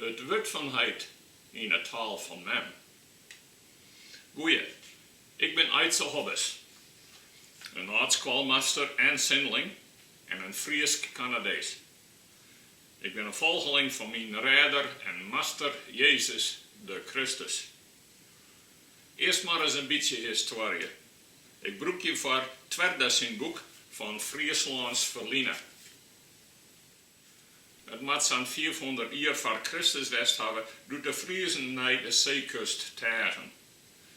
It wurd fan heit yn 'e taal fan mem. Goeie, ik bin Aidse Hobbes, in âld-skoalmaster en sindeling en in Frysk Kanadees. Ik bin in folgeling fan myn Rêder en Master Jezus de Kristus. Earst mar ris in bytsje histoarje. Ik brûk hjirfoar Twerda syn boek Fan Fryslâns ferline. It moat sa'n fiifhûndert jier foar Kristus west hawwe doe't de Friezen nei de seekust teagen.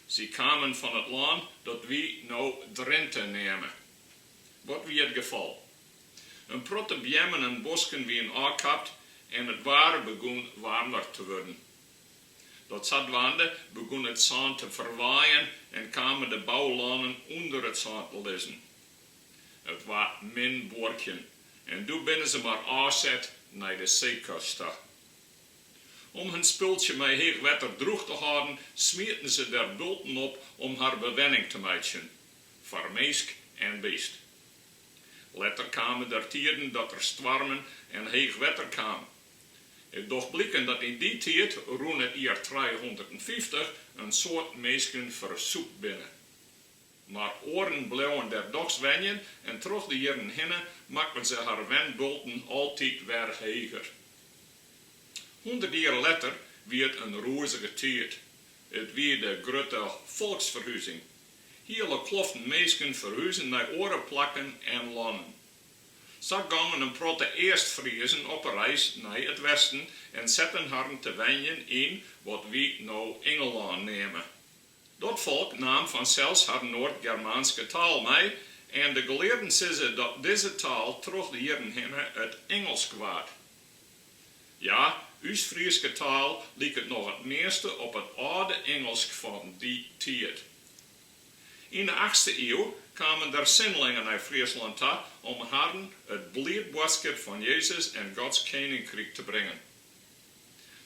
Sy kamen fan it lân dat wy no Drinte neame. Wat wie it gefal? In protte beammen en bosken wiene ôfkapt en it waar begûn waarmer te wurden. Dat sadwaande begûn it sân te ferwaaien en kamen de boulannen ûnder it sân te lizzen. It waard min buorkjen en doe binne se mar ôfset nei de seekust ta. Om hun spultsje mei heech wetter drûch te hâlden, smieten se der bulten op om har bewenning te meitsjen, foar minsk en beast. Letter kamen der tiiden dat der stoarmen en heech wetter kaam. It docht bliken dat yn dy tiid, rûn it jier trijehûndertfyftich, in soad minsken fersûpt binne. Mar oaren bleauen dêr dochs wenjen en troch de jierren hinne makken se har wenbulten altyd wer heger. Hûndert jier letter wie it in rûzige tiid. It wie de grutte folksferhuzing. Hiele kloften minsken ferhuzen nei oare plakken en lannen. Sa gongen in protte Eastfriezen op 'e reis nei it westen en setten harren te wenjen yn wat wy no Ingelân neame. Dat folk naam fansels har Noardgermaanske taal mei en de gelearden sizze dat dizze taal troch de jierren hinne it Ingelsk waard. Ja, ús Fryske taal liket noch it measte op it âlde Ingelsk fan dy tiid. Yn de achtste iuw kamen der sindelingen nei Fryslân ta om harren it bliid boadskip fan Jezus en Gods Keninkryk te bringen.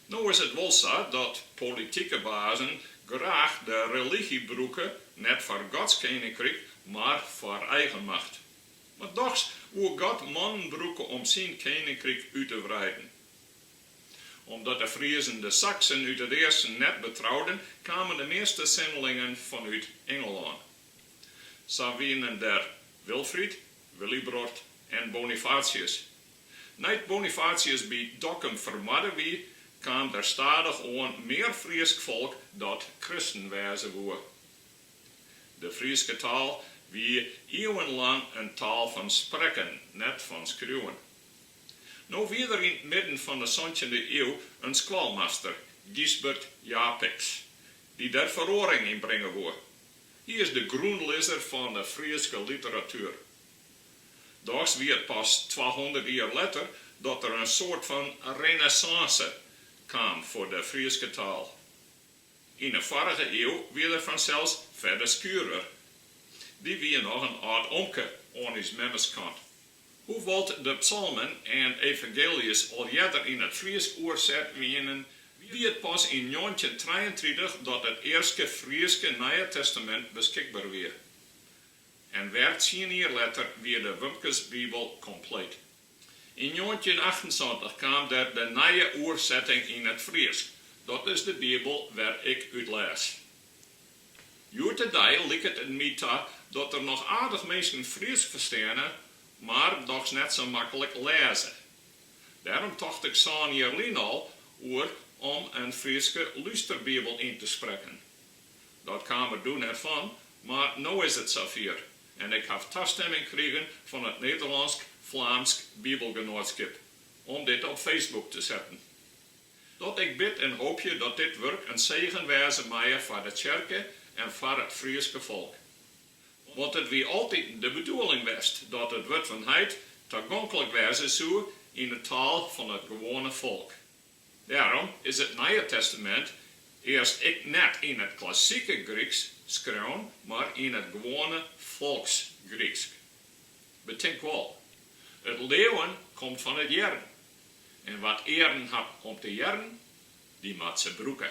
No is it wol sa dat politike bazen graach de religy brûke, net foar Gods keninkryk, mar foar eigen macht. Mar dochs woe God mannen brûke om syn keninkryk út te wreiden. Omdat de Friezen de Saksen út it easten net betrouden, kamen de measte sindelingen fanút Ingelân. Sa wienen der Wilfried, Willibrord en Bonifatius. Nei't Bonifatius by Dokkum fermoarde wie, kaam der stadich oan mear Frysk folk dat kristen wêze woe. De Fryske taal wie ieuwenlang in taal fan sprekken, net fan skriuwen. No wie der yn it midden fan 'e santjinde iuw in skoalmaster, Gysbert Japicx, dy't dêr feroaring yn bringe woe. Hy is de grûnlizzer fan 'e Fryske literatuer. Dochs wie it pas twahûndert jier letter dat der in soart fan renêssânse kaam foar de Fryske taal. Yn 'e foarige iuw wie der fansels Fedde Schurer. Dy wie noch in âld omke oan ús memmeskant. Hoewol't de psalmen en evangeeljes al earder yn it Frysk oerset wienen, wie it pas yn njoggentjintrijeentritich dat it earste Fryske Nije Testamint beskikber wie. en wer tsien jier letter wie de Wumkesbibel kompleet. Yn njoggentjinachtensantich kaam der de nije oersetting yn it Frysk, dat is de Bibel wêr't ik út lês. Hjoed-de-dei liket it my ta dat der noch aardich minsken Frysk fersteane, mar dochs net sa maklik lêze. Dêrom tocht ik sân jier lyn al oer om in Fryske lústerbibel yn te sprekken. Dat kaam er doe net fan, mar no is it safier en ik haw tastimming krigen fan it Nederlânsk-Flaamsk Bibelgenoatskip om dit op Facebook te setten. Dat ik bid en hoopje dat dit wurk in segen wêze meie foar de tsjerke en foar it Fryske folk. Want it wie altyd de bedoeling west dat it wurd fan Heit tagonklik wêze soe yn de taal fan it gewoane folk. Dêrom is it Nije Testamint earst ek net yn it klassike Gryksk skreaun, mar yn it gewoane folksgryksk. Betink wol, it leauwen komt fan it hearren, en wa't earen hat om te hearren, dy moat se brûke.